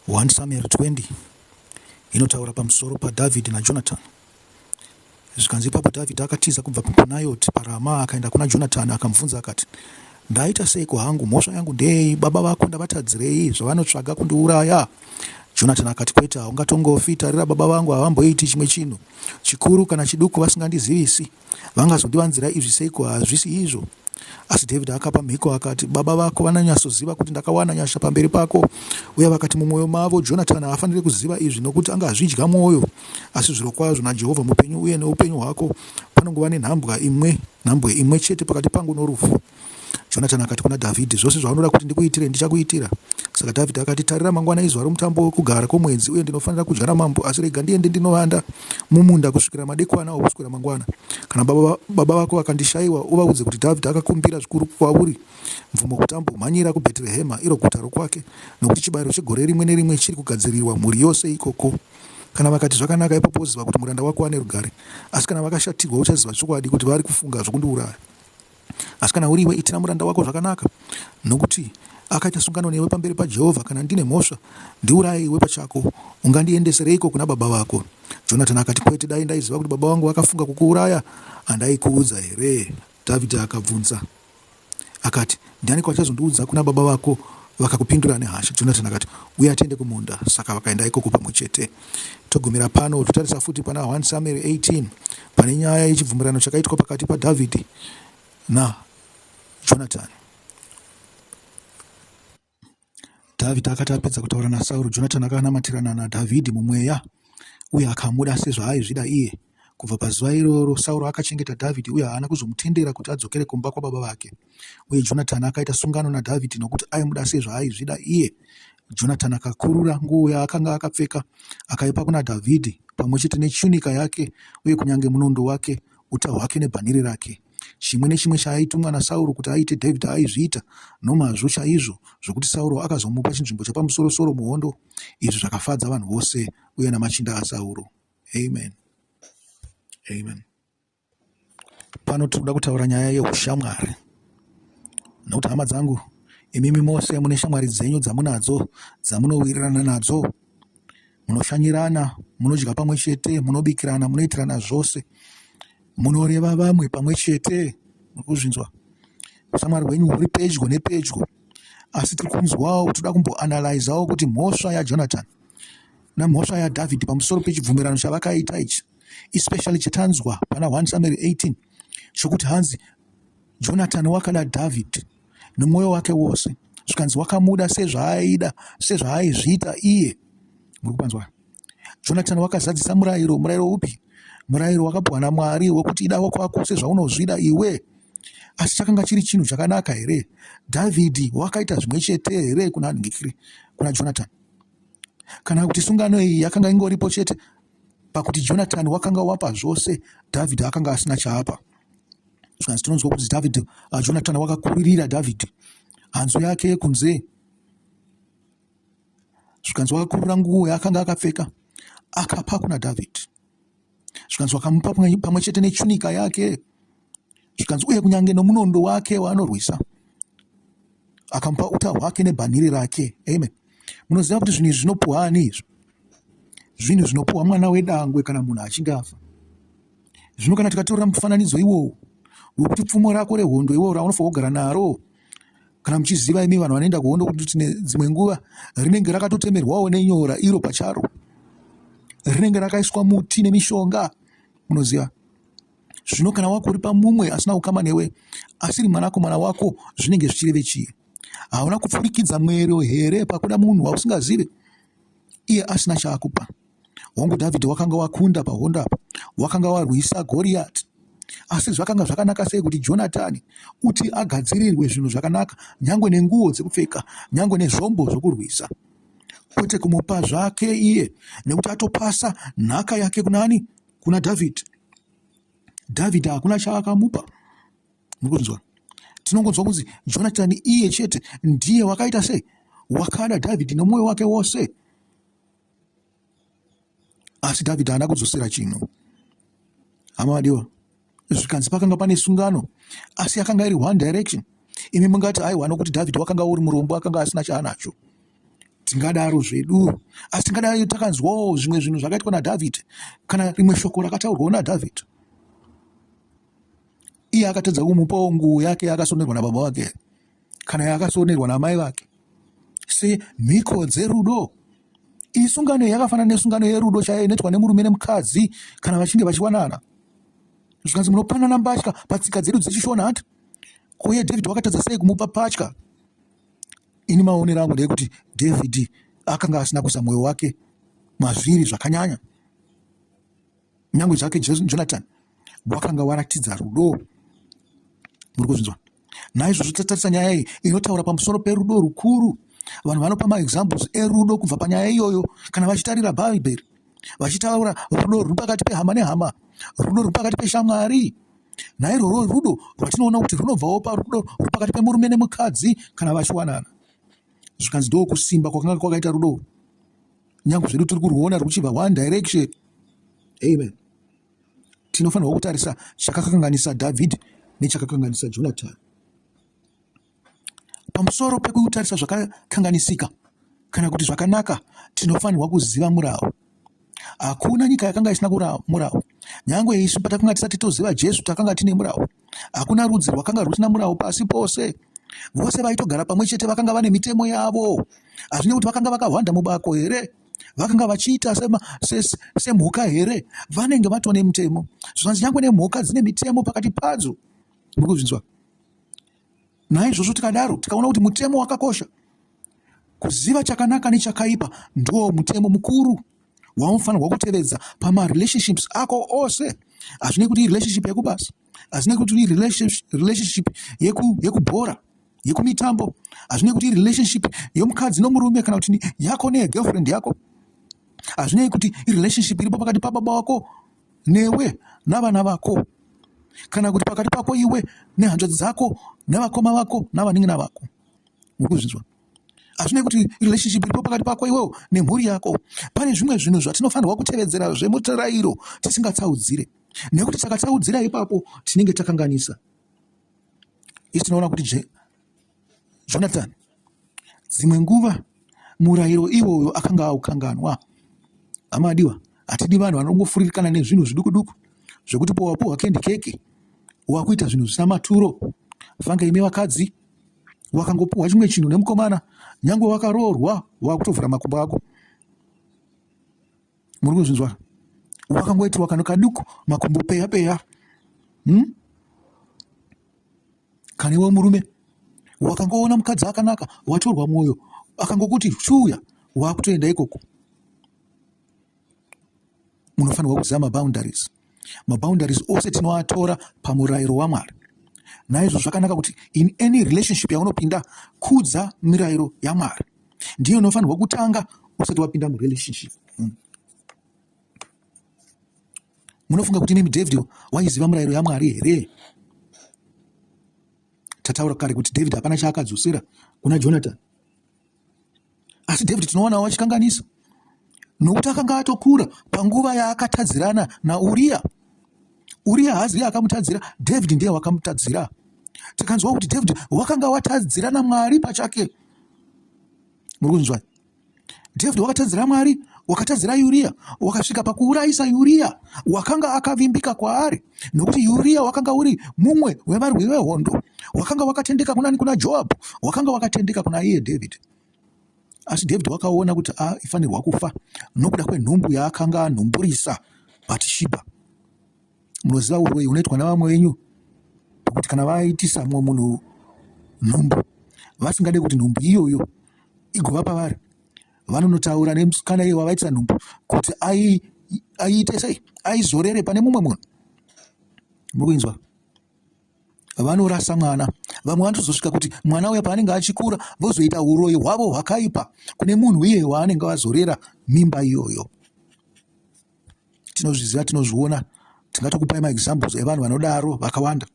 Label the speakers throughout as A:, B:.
A: 1 Samueri 20 inotaura pamusoro paDhavhidhi naJonatani. Zvikanzi ipapo Dhavhidhi akatiza kubva kuNayoti paRama akaenda kuna Jonatani akamubvunza akati, Ndaita seiko hangu? Mhosva yangu ndeyei? Baba vako ndavatadzirei zvavanotsvaga kundiuraya? Jonatani akati, Kwete, haungatongofi. Tarira, baba vangu havamboiti chimwe chinhu chikuru kana chiduku vasingandizivisi. Vangazondivanzira izvi seiko? Hazvisi izvo. Asi David akapa mhiko akati, Baba vako vananyatsoziva kuti ndakawana nyasha pamberi pako, uye vakati mumwoyo mavo, Jonatani haafanire kuziva izvi, nokuti angazvidya mwoyo. Asi zvirokwazvo naJehovha mupenyu uye noupenyu hwako, panongova nenhambwa imwe, nhambwe imwe chete pakati pangu norufu. Jonatani akati kuna Dhavhidhi, Zvose zvaunoda kuti ndikuitire, ndichakuitira. Saka Dhavhidhi akati, Tarira, mangwana izuva romutambo wokugara kwomwedzi, uye ndinofanira kudya namambo, asi rega ndiende ndinovanda mumunda kusvikira madekwana okuswera mangwana. Kana baba, baba vako vakandishaiwa, uvaudze kuti Dhavhidhi akakumbira zvikuru kwauri mvumo kuti ambomhanyira kuBheterehema, iro guta rokwake, nokuti chibayiro chegore rimwe nerimwe chiri kugadzirirwa mhuri yose ikoko. Kana vakati zvakanaka, ipapo woziva kuti muranda wako ane rugare, asi kana vakashatirwa, uchaziva chokwadi kuti vari kufunga zvokundiuraya. Asi kana uri iwe, itira muranda wako zvakanaka, nokuti akaita sungano newe pamberi paJehovha, Kana ndine mhosva, ndiuraye iwe pachako. Ungandiendesereiko kuna baba vako? Jonatani akati, Kwete! Dai ndaiziva kuti baba vangu vakafunga kukuuraya, handaikuudza here? Dhavhidhi akabvunza akati, Ndianiko achazondiudza kuna baba vako vakakupindura nehasha? Jonatani akati, Uya tiende kumunda. Saka vakaenda ikoko pamwe chete. Togumira pano totarisa futi pana 1 Samueri 18 pane nyaya yechibvumirano chakaitwa pakati paDhavhidhi naJonatani. Dhavhidhi akati apedza kutaura naSauro, Jonatani akanamatirana naDhavhidhi mumweya uye akamuda sezvaaizvida iye. Kubva pazuva iroro, Sauro akachengeta Dhavhidhi uye haana kuzomutendera kuti adzokere kumba kwababa vake. Uye Jonatani akaita sungano naDhavhidhi nokuti aimuda sezvaaizvida iye. Jonatani akakurura nguo yaakanga akapfeka akaipa kuna Dhavhidhi pamwe chete nechunika yake uye kunyange munondo wake, uta hwake nebhanhire rake. Chimwe nechimwe chaaitumwa naSauro kuti aite Dhavhidhi aizviita nomazvo chaizvo zvokuti Sauro akazomupa chinzvimbo chapamusorosoro muhondo. Izvi zvakafadza vanhu vose uye namachinda aSauro. Amen. Amen. Pano tiri kuda kutaura nyaya yeushamwari, nokuti hama dzangu, imimi mose mune shamwari dzenyu dzamunadzo dzamunowirirana nadzo, munoshanyirana, munodya pamwe chete, munobikirana, munoitirana zvose, munoreva vamwe pamwe chete. Mukuzvinzwa, ushamwari hwenyu huri pedyo nepedyo, asi tiri kunzwawo, tiri kuda kumboanalaizawo kuti mhosva yaJonatani nemhosva yaDhavhidhi pamusoro pechibvumirano chavakaita ichi, especially chatanzwa pana 1 Samueri 18 chokuti hanzi Jonatani wakada Dhavhidhi nemwoyo wake wose, zvikanzi wakamuda sezvaaida sezvaaizviita iye. Muri kupanzwa? Jonatani wakazadzisa murayiro. Murayiro upi? Murayiro wakapuwa naMwari wekuti ida wako wako sezvaunozvida iwe. Asi chakanga chiri chinhu chakanaka here? Dhavhidhi wakaita zvimwe chete here kuna Nigiri, kuna Jonatani? Kana kuti sungano iyi yakanga ingoripo chete pakuti Jonatani wakanga wapa zvose, Dhavhidhi akanga asina chaapa. Zvikanzi tinonzwa kuti Dhavhidhi, uh, Jonatani wakakuririra Dhavhidhi hanzu yake yekunze, zvikanzi wakakurira nguo yaakanga akapfeka akapa kuna Dhavhidhi, zvikanzi wakamupa pamwe chete nechunika yake Zvikanzi, Uye kunyange nomunondo wake waanorwisa, akamupa uta hwake nebhanhiri rake. Amen. Munoziva kuti zvinhu izvi zvinopuhwa ani izvo? Zvinhu zvinopuhwa mwana wedangwe kana munhu achinge afa. Zvino kana tikatorera mufananidzo iwowo wekuti pfumo rako rehondo iwowo raunofanira kugara naro kana muchiziva imi vanhu vanoenda kuhondo kuti tine dzimwe nguva rinenge rakatotemerwawo nenyora iro pacharo rinenge rakaiswa muti nemishonga munoziva Zvino kana wakuripa mumwe asina ukama newe, asiri mwanakomana wako, zvinenge zvichireve chii? Hauna kupfurikidza mwero here pakuda munhu wausingazive, iye asina chaakupa? Hongu, Dhavhidhi wakanga wakunda pahondo apa, wakanga warwisa Goriyati. Asi zvakanga zvakanaka sei kuti Jonatani kuti agadzirirwe zvinhu zvakanaka, nyangwe nenguo dzekupfeka, nyangwe nezvombo zvokurwisa, kwete kumupa zvake iye, nekuti atopasa nhaka yake kunani? kuna dhavhidhi dhavhidhi hakuna chaakamupa mukunzwa tinongonzwa kunzi jonatani iye chete ndiye wakaita sei wakada dhavhidhi nomwoyo wake wose asi dhavhidhi haana kudzosera chinhu hama vadiwa zvikanzi pakanga pane sungano asi yakanga iri one direction imi mungati aiwa nokuti david wakanga uri murombo akanga asina chaanacho tingadaro zvedu asi tingadai takanzwawo zvimwe zvinhu zvakaitwa nadavid kana rimwe shoko rakataurwawo nadavid iye akatadza kumupawo nguo yake akasonerwa nababa vake kana yaakasonerwa namai vake semhiko dzerudo iyi sungano yakafanana nesungano yerudo chaiyo inoitwa nemurume nemukadzi kana vachinge vachiwanana zvikanzi munopanana mbatya patsika dzedu dzechishona hati kuye david wakatadza sei kumupa patya ini maonero angu ndeyekuti david akanga asina kuisa mwoyo wake mazviri zvakanyanya nyangwe zvake jonathan wakanga waratidza rudo muri kuzvinzwa naizvozvo tatarisa nyaya iyi inotaura pamusoro perudo rukuru vanhu vanopa maexamples erudo kubva panyaya iyoyo kana vachitarira bhaibheri vachitaura rudo ruri pakati pehama nehama rudo ruri pakati peshamwari nairworwo rudo rwatinoona kuti runobvawo parudo ruri pakati pemurume nemukadzi kana vachiwanana zvikanzi ndoo kusimba kwakanga kwakaita rudo nyange zvedu tiri kurwuona rwuchibva one direction amen tinofanirwa kutarisa chakakanganisa dhavhidhi nechakakanganisa jonatani pamusoro pekutarisa zvakakanganisika kana kuti zvakanaka tinofanirwa kuziva murawo hakuna nyika yakanga isina murawo nyange isu patakanga tisati toziva jesu takanga tine murawo Hakuna rudzi rwakanga rwusina murawo pasi pose. Vose vaitogara pamwe chete vakanga vane mitemo yavo. Hazvine kuti vakanga vakahwanda mubako here? vakanga vachiita semhuka here vanenge vatwa nemutemo zvanzi nyangwe nemhuka dzine mitemo pakati padzo ndikuzvinzwa naizvozvo tikadaro tikaona kuti mutemo wakakosha Kuziva chakanaka nechakaipa ndiwo mutemo mukuru waunofanirwa kutevedza pamarelationships ako ose. Hazvinei kuti irelationship yekubasa, hazvinei kuti irelationship yekubhora, yekumitambo, hazvinei kuti irelationship yomukadzi nomurume kana kuti yako neyegirlfriend yako, hazvinei kuti irelationship iripo pakati pababa wako newe navana vako kana kuti pakati pako iwe nehanzvadzi dzako nevakoma vako navanin'ina vako. muri kuzvinzwa hazvinei kuti relationship iripo pakati pako iwewo nemhuri yako pane zvimwe zvinhu zvatinofanirwa kutevedzera zvemutirairo tisingatsaudzire nekuti takatsaudzira ipapo tinenge takanganisa isi tinoona kuti je jonathan dzimwe nguva murayiro iwoyo akanga aukanganwa hama adiwa hatidi vanhu vanongofuririkana nezvinhu zviduku duku zvekuti powapuhwa kendi keke wakuita zvinhu zvisina maturo fanga imi vakadzi wakangopiwa chimwe chinhu nemukomana nyange wakaroorwa wakutovhura makumbo ako muri kuzvinzwa wakangoitiwa kano kaduku makumbo peya peya hmm? kane we murume wakangoona mukadzi akanaka watorwa mwoyo akangokuti shuya wakutoenda ikoko munofanirwa kuziva maboundaries maboundaries ose tinoatora pamurayiro wamwari naizvo zvakanaka kuti in any relationship yaunopinda kudza mirayiro yamwari ndiyo inofanirwa kutanga usati wapinda murelationship hmm. munofunga kuti nemi david waiziva murayiro yamwari here tataura kare kuti david hapana chaakadzosera kuna jonathan asi david tinowanawo achikanganisa nokuti akanga atokura panguva yaakatadzirana nauriya uriya haazi iye akamutadzira david ndiye wakamutadzira tikanzwa kuti david wakanga watadzira namwari pachake muri kunzwa david wakatadzira mwari wakatadzira uriya wakasvika pakuurayisa uriya wakanga akavimbika kwaari nokuti uriya wakanga uri mumwe wevarwi vehondo wakanga wakatendeka kunani kuna joabhu wakanga wakatendeka kuna iye dhavhidhi asi dhavhidhi wakaona kuti aifanirwa ah, kufa nokuda kwenhumbu yaakanga anhumburisa batishibha munoziva uroyi unoitwa navamwe venyu kuti kana vaitisa mumwe munhu nhumbu vasingade kuti nhumbu iyoyo igova pavari vanonotaura nemusikana iye wavaitira nhumbu kuti aiite sei aizorere pane mumwe munhu mukuinzwa vanorasa mwana vamwe vanotozosvika kuti mwana uya paanenge achikura vozoita uroyi hwavo hwakaipa kune munhu iye waanenge vazorera mimba iyoyo tinozviziva tinozviona tingatokupai maexamples evanhu vanodaro vakawanda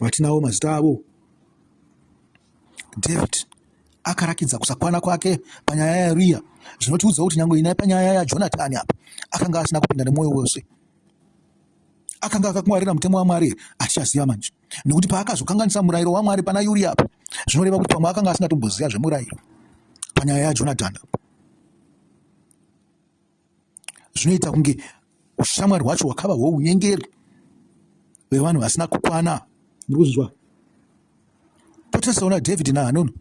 A: vatinawo mazita avo david akarakidza kusakwana kwake panyaya yauriya zvinotiudza kuti nyange inai panyaya yajonatani apa akanga asina kupinda nemwoyo wose akanga akakungwarira mutemo wamwari here hatichaziva manje nekuti paakazokanganisa murayiro wamwari pana yuri apa zvinoreva kuti pamwe akanga asingatomboziva zvemurayiro panyaya yajonatani apa zvinoita kunge ushamwari hwacho hwakava hwounyengeri hwevanhu vasina kukwana muri kunzwa potisaona david nahanoni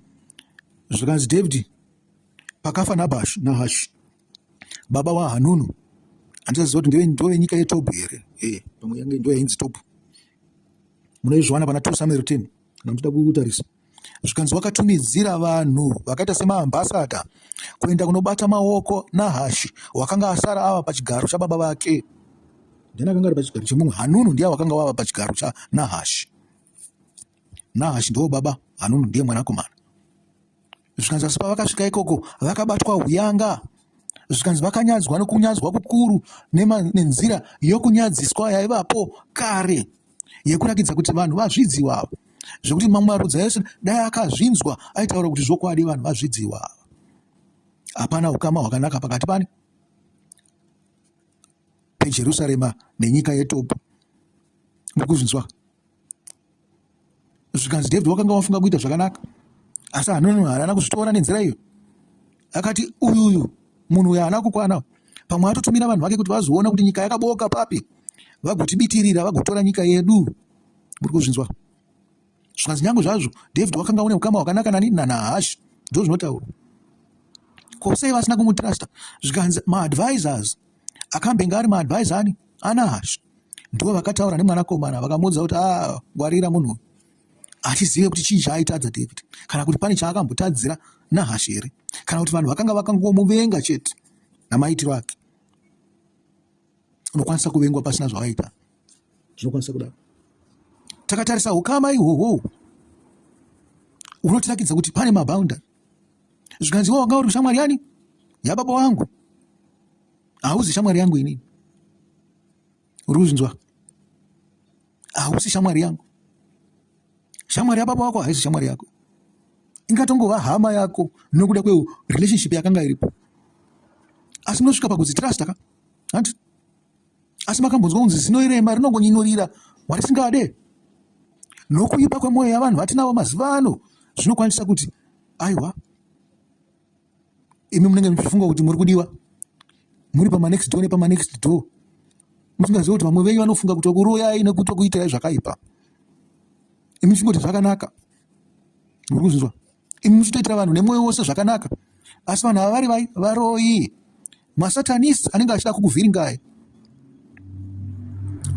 A: zvikanzi david pakafa nabash nahash baba wahanunu handisaziva kuti ndeve ndove nyika yetob here e pamwe yange ndo yainzi tob munoizviwana pana two samuel ten kana muchida kutarisa zvikanzi wakatumidzira vanhu vakaita semaambasada kuenda kunobata maoko nahashi wakanga asara ava pachigaro chababa vake ndiani akanga ari pachigaro chemumwe hanunu ndiye wakanga wava pachigaro chanahashi nahashi ndiwo baba hanunu ndiye mwanakomana zvikanzi asi pavakasvika ikoko vakabatwa huyanga zvikanzi vakanyadzwa nokunyadzwa kukuru nenzira yokunyadziswa yaivapo kare yekurakidza kuti vanhu vazvidziwa ava zvekuti mamwe marudzi aese dai akazvinzwa aitaura kuti zvokwadi vanhu vazvidziwa ava hapana ukama hwakanaka pakati pani pejerusarema nenyika yetopu mukuzvinzwa zvikanzi david wakanga wafunga kuita zvakanaka asi hanono haana kuzvitora nenzira iyo akati uyu uyu munhu uyo haana kukwana pamwe atotumira vanhu vake kuti vazoona kuti nyika yakabooka papi vagotibitirira vagotora nyika yedu muri kuzvinzwa zvikanzi nyange zvazvo david wakanga une ukama hwakanaka nani nanahashi ndo zvinotaura ko sei vasina kumutrusta zvikanzi maadvisors akambenge ari maadvisor ani anahashi ndivo vakataura nemwanakomana vakamuudza kuti ah, ngwarira munhu uyu hatizive kuti chii chaaitadza david kana kuti pane chaakambotadzira nahashe here kana kuti vanhu vakanga vakangomuvenga chete namaitiro ake unokwanisa kuvengwa pasina zvavaita zvinokwanisa kudaro takatarisa ukama ihwohwo unotirakidza kuti pane mabounda zvikanziwa wanga uri kushamwari yani yababa wangu hauzi shamwari yangu inini uri kuzvinzwa hausi shamwari yangu shamwari yababa wako haisi shamwari yako ingatongova hama yako nokuda kwe relationship yakanga iripo asi munosvika pakuzi trust ka hanti asi makambonzwa kunzi zinoirema rinongonyinurira warisingade nokuipa kwemwoyo yavanhu vatinavo mazuva ano zvinokwanisa kuti aiwa imi munenge muchifunga kuti muri kudiwa muri pamanext door nepamanext door musingazivi kuti vamwe venyu vanofunga kuti wakuroyai nekuti wakuitai zvakaipa imi muchingoti zvakanaka muri kuzvinzwa imi muchitoitira vanhu nemwoyo wose zvakanaka asi vanhu ava vari vai varoyi Masatanists anenge achida kukuvhiringai.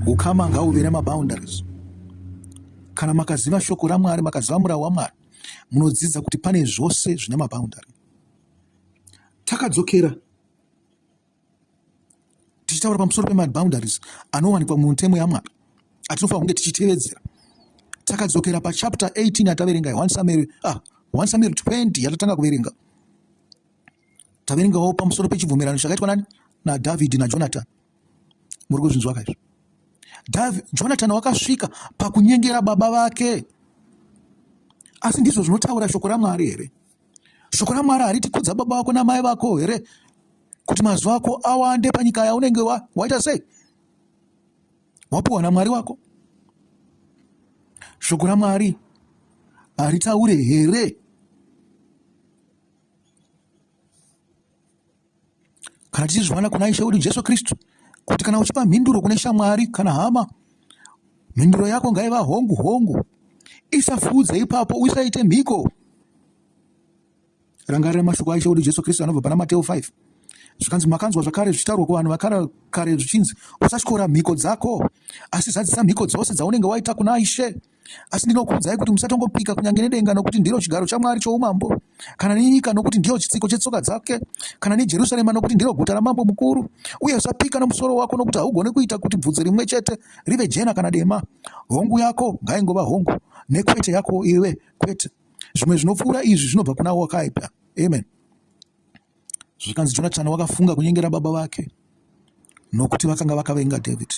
A: Ukama ngauve nemaboundaries. Kana makaziva shoko raMwari, makaziva murau waMwari, munodzidza kuti pane zvose zvine maboundary. Takadzokera tichitaura pamusoro pemaboundaries anowanikwa mumutemo yaMwari atinofanira kunge tichitevedzera. Takadzokera pachapter 18 yataverenga 1 Samuel, ah, 1 Samuel 20 yatatanga kuverenga. Taverengawo pamusoro pechibvumirano chakaitwa nani? NaDhavhidhi naJonatani. Muri kuzvinzwa kaizvo? Jonatani wakasvika pakunyengera baba vake. Asi ndizvo zvinotaura shoko raMwari here? Shoko raMwari hariti kudza baba vako namai vako here? Kuti mazuva ako awande panyika yaunenge waita wa sei? Wapuwa naMwari wako. Shoko raMwari haritaure here? kana tichizviwana kuna ishe wedu jesu kristu kuti kana uchipa mhinduro kune shamwari kana hama mhinduro yako ngaiva hongu hongu isafudze ipapo usaite mhiko rangarira mashoko aishe wedu jesu kristu anobva pana mateo 5 zvikanzi makanzwa zvakare zvichitaurwa kuvanhu vakara kare zvichinzi usatyora mhiko dzako asi zadzisa mhiko dzose dzaunenge waita kuna ishe Asi ndinokuudzai kuti musatongopika kunyange nedenga, nokuti ndiro chigaro chaMwari choumambo, kana nenyika, nokuti ndiyo chitsiko chetsoka dzake, kana neJerusarema, nokuti ndiro guta ramambo mukuru. Uye usapika nomusoro wako, nokuti haugoni kuita kuti bvudzi rimwe chete rive jena kana dema. Hongu yako ngaingova hongu, nekwete yako iwe kwete. Zvimwe zvinopfuura izvi zvinobva kuna wakaita. Amen. Zvikanzi Jonatani wakafunga kunyengera baba vake nokuti vakanga vakavenga David.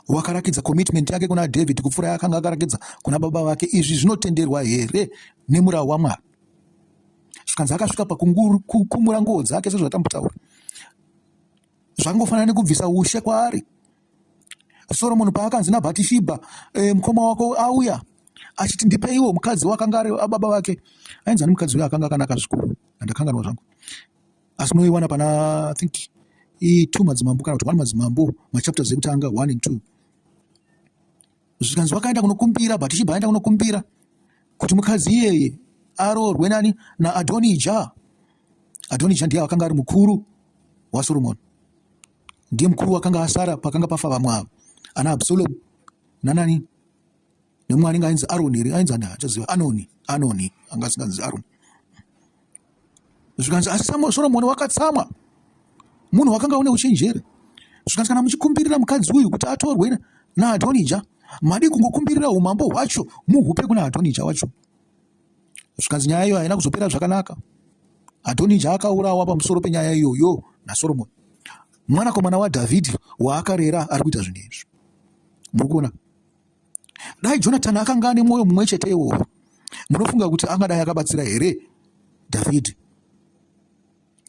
A: Wakarakidza commitment yake kuna David kupfuura yaakanga akarakidza kuna baba vake. Izvi zvinotenderwa here nemurawo waMwari? Zvikanzi akasvika pakukumura nguo dzake sezvatambutaura. Zvangofanana nekubvisa ushe kwaari. soromoni paakanzi nabhatishibha e, mukoma wako auya achiti ndipeiwo mukadzi wakanga ari ababa vake ainzi ani mukadzi uyo akanga akanaka zvikuru andakanganwa zvangu asi unoiwana pana think two madzimambo kana kuti one madzimambo machapters ekutanga one and two zvikanzi wakaenda kunokumbira bhatishibha aenda kunokumbira kuti mukadzi iyeye aroorwe nani naadhonija adhonija ndiye akanga ari mukuru wasoromoni ndiye mukuru wakanga asara pakanga pafa vamwe ava ana absalomu nanani nemumwe anenge ainzi aroni here ainzi ani achaziva anoni anoni anga asinganzi aroni zvikanzi asi soromoni wakatsamwa munhu wakanga une uchenjeri zvikanzi kana muchikumbirira mukadzi uyu kuti atorwe naadhonija madii kungokumbirira umambo hwacho muhupe kuna adhonija wacho zvikanzi nyaya iyo haina kuzopera zvakanaka adhonija akaurawa pamusoro penyaya iyoyo nasoromoni mwanakomana wadhavhidhi waakarera ari kuita zvinhu izvi muri kuona dai jonatani akanga ane mwoyo mumwe chete iwowo munofunga kuti angadai akabatsira here dhavhidhi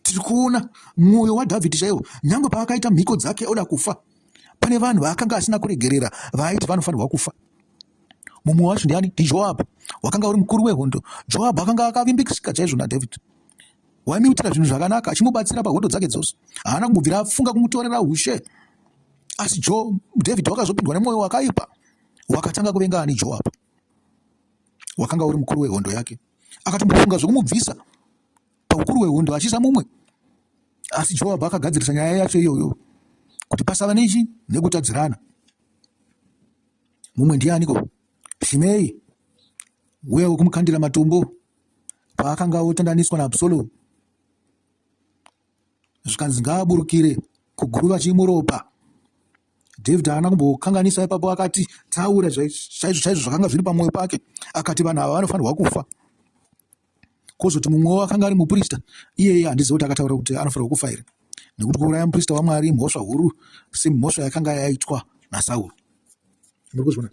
A: tiri kuona mwoyo wadhavhidhi chaiwo nyange paakaita mhiko dzake oda kufa pane vanhu vaakanga asina kuregerera vaaiti vanofanirwa kufa mumwe wacho ndiani ndijoabhu wakanga uri mukuru wehondo joabhu akanga akavimbikisika chaizvo nadhavhidhi waimuitira zvinhu zvakanaka achimubatsira pahondo dzake dzose haana kumubvira afunga kumutorera ushe asi jo dhavhidhi wakazopindwa nemwoyo wakaipa wakatanga kuvenga ani joabhu wakanga uri mukuru wehondo yake akatombofunga zvekumubvisa paukuru hwehondo achisa mumwe asi joabhu akagadzirisa nyaya yacho iyoyo kuti pasava nechi nekutadzirana mumwe ndianiko shimei uya wekumukandira matombo paakanga otandaniswa naabsalomu zvikanzi ngaaburukire kuguruva chimuropa david haana kumbokanganisa ipapo akati taura chaizvo chaizvo zvakanga zviri pamwoyo pake akati vanhu ava vanofanirwa kufa kozoti mumwewo akanga ari muprista iyeye handizive kuti akataura kuti anofanirwa kufa here nekuti kuuraya muprista wamwari mhosva huru semhosva yakanga yaitwa nasauro muri kuzvona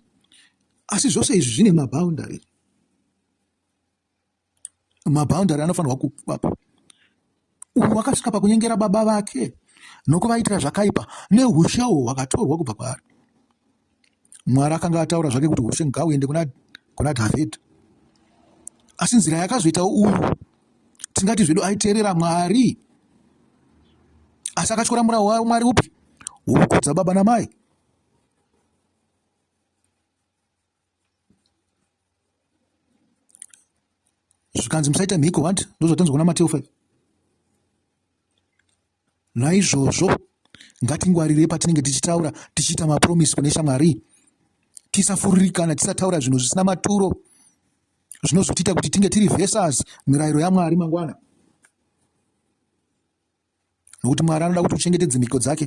A: asi zvose izvi zvine maboundary maboundary anofanirwa kuvapo uyu wakasvika pakunyengera baba vake nokuvaitira zvakaipa neushe uhwo hwakatorwa kubva kwaari mwari akanga ataura zvake kuti ushe ngauende kuna, kuna dhavhidhi asi nzira yakazoitawo uyu tingati zvedu aiteerera mwari asi akatyora murawo wayo mwari upi wokukudza baba namai zvikanzi musaita mhiko hanti ndozvatanzwa kuna mateo 5 naizvozvo ngatingwarirei patinenge tichitaura tichiita mapromisi kune shamwari tisafuririkana tisataura zvinhu zvisina maturo zvinozotiita kuti tinge tiri vesas mirayiro yamwari mangwana nokuti mwari anoda kuti uchengetedze mhiko dzake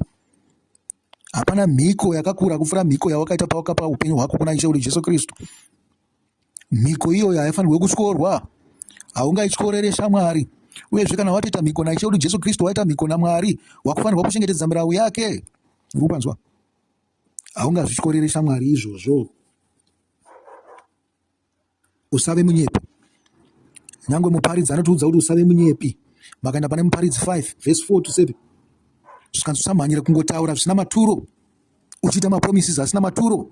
A: hapana mhiko yakakura kupfuura mhiko yawakaita pawakapa upenyu hwako kuna ishe uri jesu kristu mhiko iyoyo haifanirwe kutyorwa haungaityorere shamwari uyezve kana watoita mhiko naishe uri jesu kristu waita mhiko namwari wakufanirwa kuchengetedza mirau yake uri kupanzwa haungazvityorere shamwari izvozvo usave munyepi nyangwe muparidzi anotiudza kuti usave munyepi makaenda pane muparidzi 5 vhesi 4 to 7 zvikanzi usamhanyira kungotaura zvisina maturo uchiita mapromises asina maturo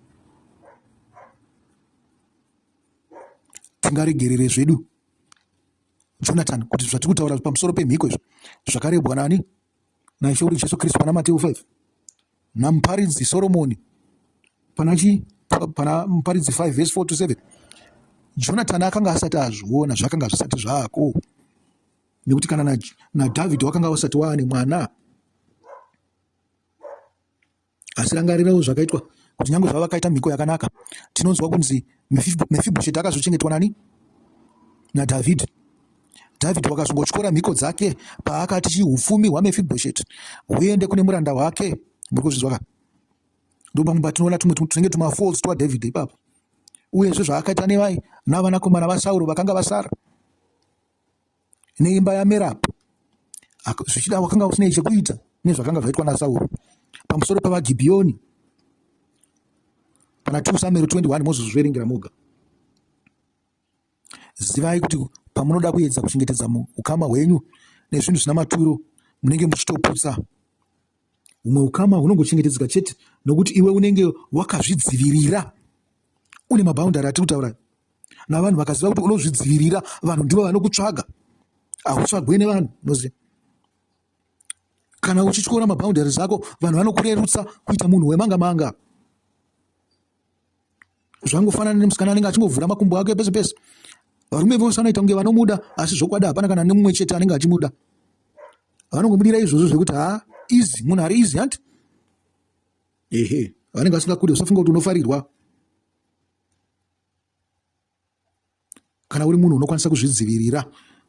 A: tingaregerere zvedu jonathan kuti zvatiri kutaura pamusoro pemhiko izvi zvakarebwa nani naIshoru Jesu Kristu pana Mateo 5 namuparidzi Soromoni pana chi pana muparidzi 5 verse 4 to 7 Jonathan akanga asati azviona zvakanga zvisati zvako nekuti kana na, na David wakanga wasati waane mwana Asi rangarirawo zvakaitwa kuti nyange zvavakaita mhiko yakanaka, tinonzwa kunzi Mefibhosheti akazochengetwa nani? NaDhavhidhi. Dhavhidhi wakazongotyora mhiko dzake paakati chiupfumi hwaMefibhosheti huende kune muranda wake. Muri kuzvinzwa ka? Ndipo pamwe patinoona tumwe tunenge tumafolds twaDhavhidhi ipapo. Uyezve zvaakaita nevai navanakomana vaSauro vakanga vasara. neimba yaMerabu, zvichida wakanga usinei chekuita nezvakanga zvaitwa naSauro pamusoro pavaGibhiyoni. Kana 2 Samueri 21 mozozviverengera moga. Zivai kuti pamunoda kuedza kuchengetedza ukama hwenyu nezvinhu zvina maturo munenge muchitoputsa Humwe ukama hunongochengetedzeka chete nokuti iwe unenge wakazvidzivirira. Une maboundary atiri kutaura navanhu vakaziva kuti unozvidzivirira, vanhu ndivo vanokutsvaga, hautsvagwe nevanhu unoziva. Kana uchityora maboundary zako, vanhu vanokurerutsa kuita munhu wemanga manga. zvangofanana nemusikana anenge achingovhura makumbo ake pese pese varume vose vanoita kunge vanomuda asi zvokwadi hapana kana nemumwe chete anenge achimuda vanongomudira izvozvo zvekuti ha easy munhu ari easy hanti ehe vanenge vasingakude usafunga kuti unofarirwa kana uri munhu unokwanisa kuzvidzivirira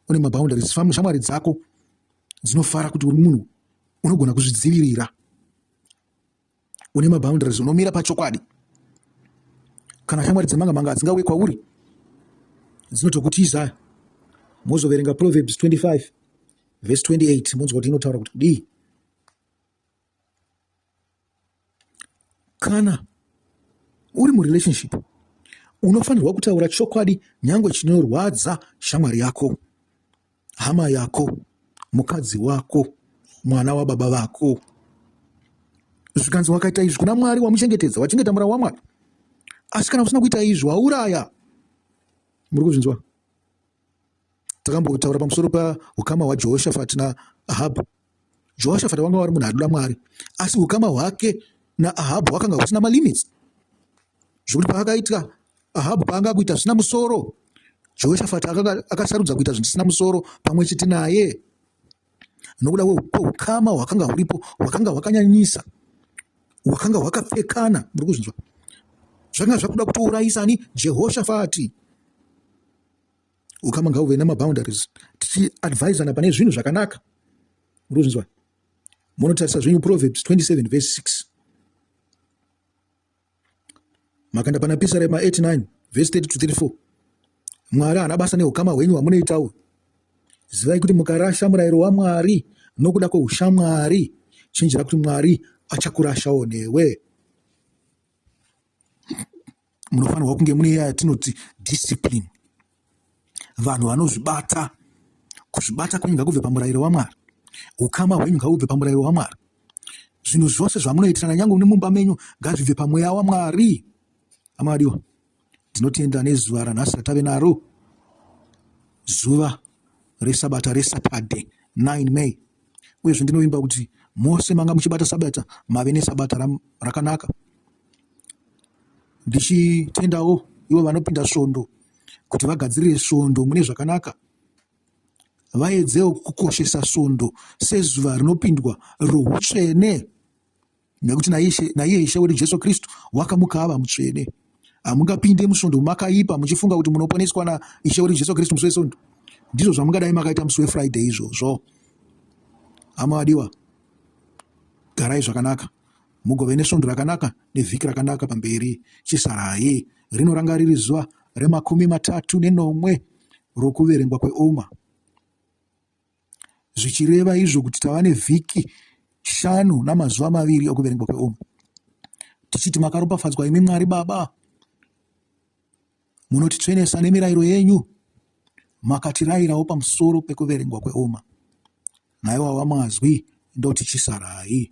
A: une maboundaries shamwari dzako dzinofara kuti uri munhu unogona kuzvidzivirira une maboundaries unomira pachokwadi kana shamwari dzemanga manga dzingauye kwauri dzinotokutiza mozoverenga proverbs 25 vhesi 28 monzwa kuti inotaura kuti kudii Kana uri murelationship unofanirwa kutaura chokwadi nyangwe chinorwadza shamwari yako hama yako mukadzi wako mwana wababa vako zvikanzi wakaita izvi kuna mwari wamuchengetedza wachengeta mura wamwari asi kana usina kuita izvi wauraya muri kuzvinzwa takambotaura pamusoro paukama hwajehoshafati naahabhu jehoshafati vanga vari munhu adoda mwari asi ukama hwake naahabhu hwakanga husina malimits zvekuti paakaitwa ahabhu paanga akuita zvisina musoro jehoshafati akasarudza kuita zvinhu zvisina musoro pamwe chete naye nokuda kweukama hwakanga huripo hwakanga hwakanyanyisa hwakanga hwakapfekana muri kuzvinzwa zvakanga zvakuda kutourayisa ani jehoshafati ukama ngauve nemaboundaries tichiadvisana pane zvinhu zvakanaka urikuzvinzwa munotarisa zvenyu proverbs 27 verse 6 makanda pana pisa rema 89 verse 30 to 34 mwari haana basa neukama hwenyu hwamunoitawo zivai kuti mukarasha murayiro wamwari nokuda kweushamwari chinjira kuti mwari achakurashawo newe munofanirwa kunge mune yatinoti discipline vanhu vanozvibata kuzvibata kwenyu ngakubve pamurayiro wamwari ukama hwenyu ngakubve pamurayiro wamwari zvinhu zvose zvamunoitirana nyange une mumba menyu ngazvibve pamweya wamwari amadiwa ndinotenda nezuva ranhasi ratave naro zuva resabata resatade 9 may uyezve ndinovimba kuti mose manga muchibata sabata mave nesabata rakanaka ndichitendawo ivo vanopinda svondo kuti vagadzirire svondo mune zvakanaka vaedzewo kukoshesa svondo sezuva rinopindwa routsvene nekuti naiye ishe wedu jesu kristu wakamukava mutsvene hamungapinde musvondo makaipa muchifunga kuti munoponeswa naishe wedu jesu kristu musi wesondo ndizvo zvamungadai makaita musi wefriday izvozvo hama vadiwa garai zvakanaka Mugove nesvondo rakanaka nevhiki rakanaka pamberi. Chisarai rinoranga riri zuva remakumi matatu nenomwe rokuverengwa kweOma, zvichireva izvo kuti tava nevhiki shanu namazuva maviri okuverengwa kweOma, tichiti makaropafadzwa imi Mwari Baba, munotitsvenesa nemirayiro yenyu, makatirayirawo pamusoro pekuverengwa kweOma. Naiwawa mazwi ndoti chisarai.